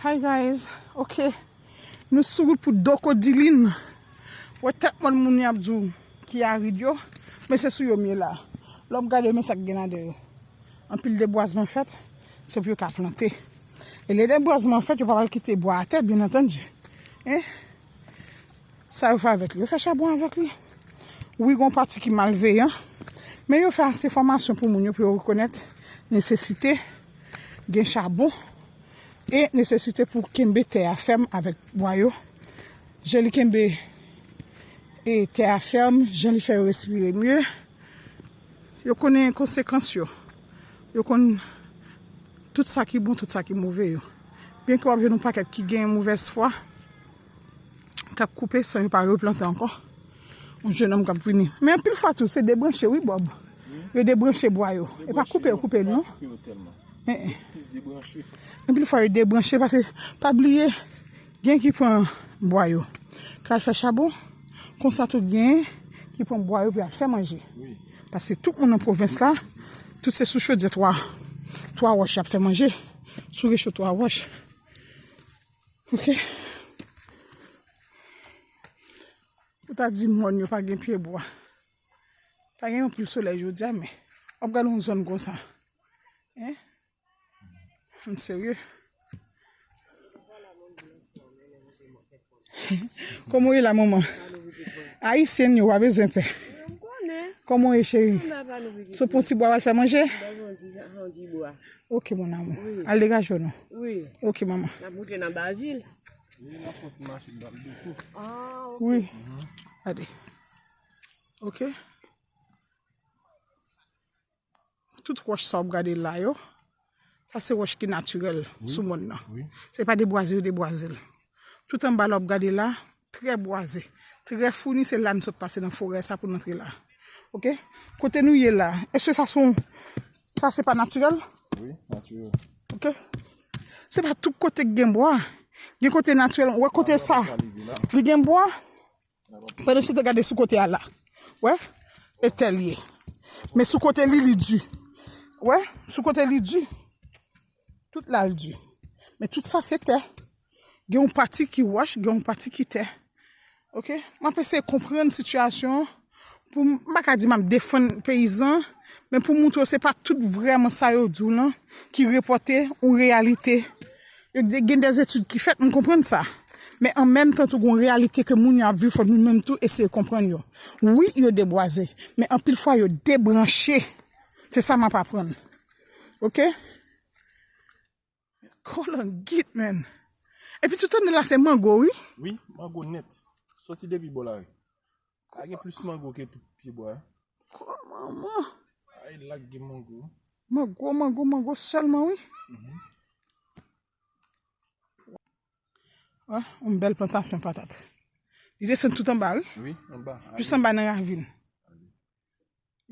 Hi guys ok nou sou wout pou doko dilin wè tèt mòn moun yap di w ki arid yo men se sou yo m ye la lè w gade yo men sa k gen ladan yo anpil debwazman fèt se pou yo ka plante e lè debwazman fèt yo pa pral kite bwa atè byen antandi. Sa yo fè avèk li? Yo fè chabon avèk li. Wi gon pati ki malveyan, men yo fè ase fòmasyon pou moun yo pou yo rekonèt nesesite gen chabon e nesesite pou kenbe tè a fèm avèk bwa yo. Jan li kenbe e tè a fèm, jan li fè yo respire mye. Yo konnen konsekans yo. Yo konn tout sa ki bon, tout sa ki move yo. Byen ke w ap jwenn yon pakèt ki gen movèz fwa, k ap koupe san yo pa replante ankò. Yon jenòm k ap vini. Men anpil fwa tou, se debranche wi Bòb. Yo debranche bwa yo. E pa koupe yo koupe l non. Anpil fwa yo debranche pase, pa bliye, gen ki pran bwa yo pou y al fè chabon, konsa tou gen ki pran bwa yo pou y al fè manje. Pase tout moun nan pwovens la, tout se sou chodyè 3 wòch y ap fè manje. sou recho 3 wòch. Ok. Ou ta di mòn yo pa gen pye bwa. Pa gen yon pil solèy jodi a men. Wap gade yon zòn konsa. Hein? An serye. Koman ou ye la manman? Ayisyenn yo pa bezwen pè. Koman ou ye cheri? Sou pon ti bwa wal fè manje? Ok mon amour. Al degaje w non. Ok manman. Wi. Gade. Ok. Tout wòch sa w ap gade la yo, sa se wòch ki natirèl sou mòn nan. Se pa debwaze yo debwaze l. Tout anba la w ap gade la, trè bwaze, trè founi, se la nou sot pase nan forè sa pou nou antre la. Ok? Kote nou ye la, èske sa se yon, sa se pa natirèl? Wi, natirèl. Ok. Se pa tout kote ki gen bwa. Gen kote natirèl. Ou wè kote sa? Li gen bwa? Mwen nou chita gade sou kote a la. Wè? E tèl ye. Men sou kote li li di. Wè? Sou kote li di. Tout la li di. Men tout sa se tè. Gen yon pati ki wòch, gen yon pati ki tè. Ok? Mwen apese konprann sitiyasyon an. Pou m pa ka di m ap defann peyizan, men pou m montre w se pa tout vrèman sa yo di w lan ki repòte yon reyalite. Gen dè etid ki fèt, m konprann sa. Men an menm tan tou gen yon reyalite ke moun yo ap viv fòk nou menm tou eseye konprann yo. Wi yo debwaze, men anpil fwa yo debranche. Se sa m ap aprann. Ok. Kolangit men. Epi tout an la se mango wi. Wi, mango net. Soti depi bo la ri. A gen plis mango ke tout pi bo a. Kwa manman. A e lak gen mango. Mango, mango, mango selman wi. Wa, yon bel plantasyon patat. Li desen tout an ba wi. Wi, an ba. Jis an ba nan ravin.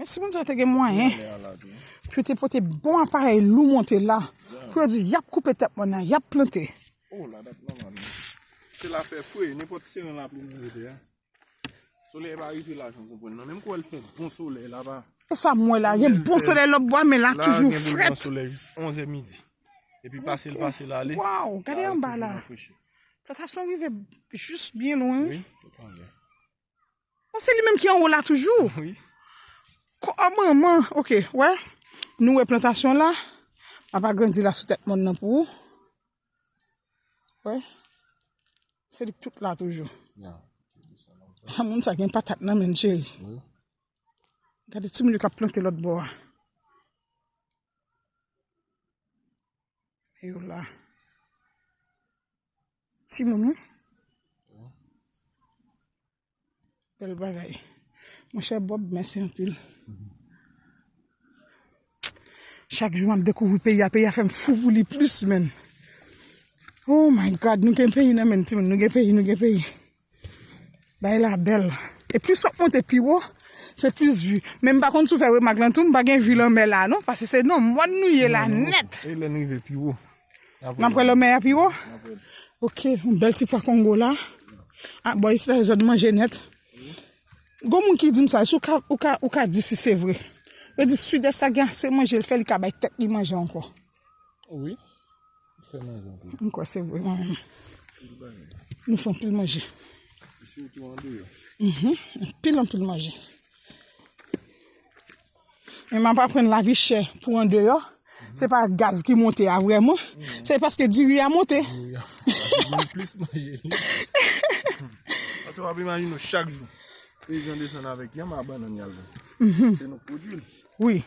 Men si moun sa te gen mwayen pou te pote bon aparèy lou monte la pou yo di yap koupe tèt mòn nan, yap plante. Oh la dat manman nou. Se la fè fre, nenpòt seren lapli nou mete ya. Solèy pa rive la janm konprann nan. Menm kouwè l fè bon solèy la pa. E sa m wè la, gen bon solèy lòt bò a men la toujou frèt. La gen pou l pran solèy jis 11 è midi. Epi pase l pase l ale. Waww, gade anba la. Plantasyon rive jis byen lwen. Wi, tout anlè. Oh se li menm ki anwo la toujou. Oui. Ko oh manman. Ok, wè. Nou wè plantasyon la. M'a pa grandi la sou tèt mòn nan pou ou. Wè. Se li k tout la toujou. Yeah. Ha moun sa gen patat nan menn cheri. Oui. Gade ti moun yo k'ap plante lòt bò a. Yo la. Ti moun wi. Bel bagay. Mon chè Bob, mèsi anpil. Chak jou map dekouvri peyi a, peyi a fèm fou pou li plus menn. Oh my God, nou gen peyi nan menn ti moun, nou gen peyi, nou gen peyi. Bagay la bèl. E plis wap monte pi wo, se plis vi. Men m pa konn si w fè remak lan tou, m pa gen vi lanmè la non. Pase se nan mòn nou ye la nèt. E lè n rive pi wo. N ap wè lanmè a pi wo? N ap wè l. Ok, yon bèl ti pwa kongo la. A, bò isit la se zòn manje nèt. Gon moun ki di m sa, si w ka, ou ka, ou ka di si se vre. Yo di sidès la gen ase manje, l fè li ka bay tèt li manje ankò. Wi, m fè manje anpil. M kwè se vre mwen menm. Anpil bagay. M fè anpil manje. Sitou andeyò. Anpil anpil manje. Men m ap aprann lavi chè pou andeyò. Se pa gaz ki monte a vrèman. Se paske diri a monte. Diri a monte. Mwen plis manje li. Pase w ap imajine w chak jou. Peyizan desann avèk yanm a bannann y al vann. Se nou k pwodui l. Wi.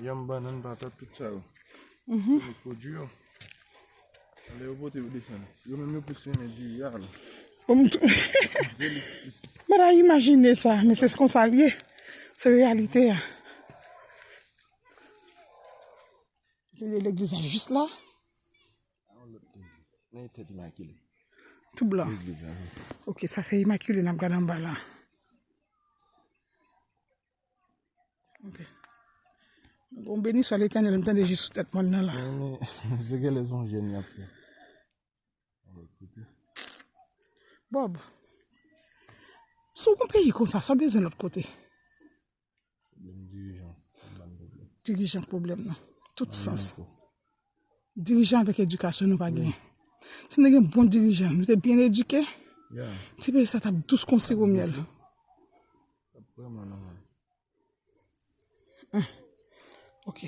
Yanm, banann, patat, tout sa yo. Se nou k pwodui yo. Lè yo pote yo desann. Yo menm yo plis renmen diri a la. Diri li plis. Mwen ta imajine sa, men se kon sa l ye. Se reyalite a. Atelier legliz la jis la. Nan yon tèt imakile. Tou blan. Ok, sa se imakile n ap gade anba la. Bon beni swa letenel m tande jis sou tet mwen nan la. Se ke le son jen yap fe. Bob. Sou kon peyi konsa sa bezin lot kote. Dirijan problem nan. Tout sans. Dirijan avèk edikasyon nou pa gen. Si nou te gen bon dirijan, nou te byen edike, ti peyi sa tap dous kon siwo myèl. Tap vreman nòmal. Ok.